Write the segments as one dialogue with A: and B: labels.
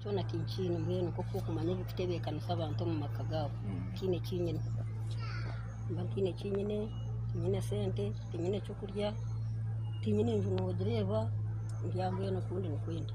A: Kyona tinkiine mbwenu nk'oku okumanya ebirikutebeekanisa abantu omu maka gaabo. Tihaine eki nyine. Nimba ntiine eki nyine, tinyine sente, tinyine ky'okurya, tinyine nju noogireeba, ndi aha mbwenu oku ndi nikwo ndi.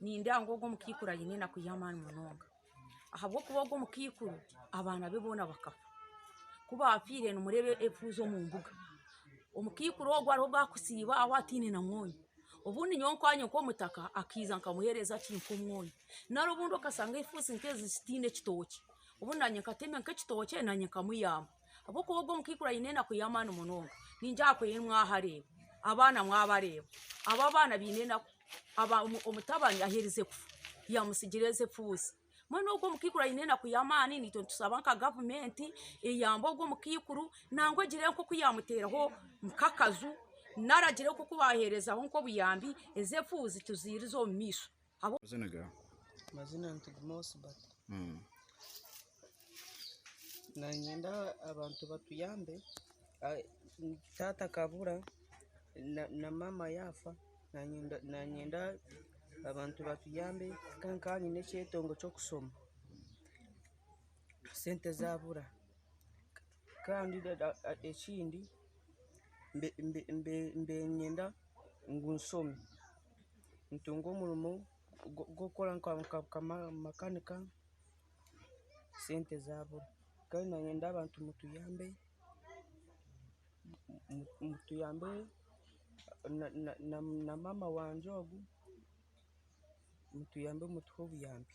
A: Nindeeba ngu ogu omukaikuru aine enaku y'amaani munonga ahabw'okuba ogu omukaikuru abaana be boona bakafa. Ku baafiire nimureeba efuuzi omu mbuga. Omukaikuru ogu hariho obu arikusiiba aho ataine na mwonyo. Obundi nyowe nkaanye nk'omutaka akaija nkamuheereza ki nk'omwonyo. Nari obundi okashanga efuuzi nk'ezi zitaine kitookye, obundi naanye nkatemya nk'ekitookye naanye nkamuyamba. ahabw'okuba ogwo omukaikuru aine enaku y'amaani munonga ningira aha kwehi mwahareeba abaana mwabareeba abo abaana baine enaku omutabani aherize kufa yamutsigira ezi efuuzi mbwenu ogwo omukaikuru aine enaku y'amaani naitwe nitusaba nka gavumenti eyambe ogwo omukaikuru nangwa egire nk'oku yamuteeraho nk'akaju nari agire nk'oku baheerezaho nk'obuyambi ezi efuuzi tuziirize omu maisho. Amazina gaawe? Amazina ni Tugume Osbert. Niinyenda abantu batuyambe, taata akabura na maama yaafa, niinyenda abantu batuyambe nka nkanye nyine ekyetengo ky'okushoma, sente zaabura kandi ekindi niinyenda ngu nshome. nitunga omurimo gw'okukora nka makanika sente zabura kandi niinyenda abantu mutuyambe mutuyambe na maama wangye ogu mutuyambe mutuhe obuyambi.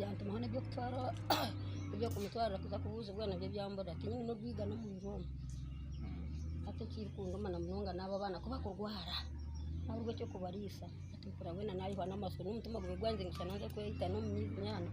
A: yantumaho n'eby'okutwara eby'okumutwarira kuza kubuuzibwa nabyo byambura tihaine n'orwiga n'omuriro omu hati ekirikunduma na munonga n'abo abaana ku bakurwara naabura eky'okubariisa hati mpurira mbwenu naayihwa n'amatsiko n'omutima gube gwanze ngu shana nze kweyita n'omu nyaanya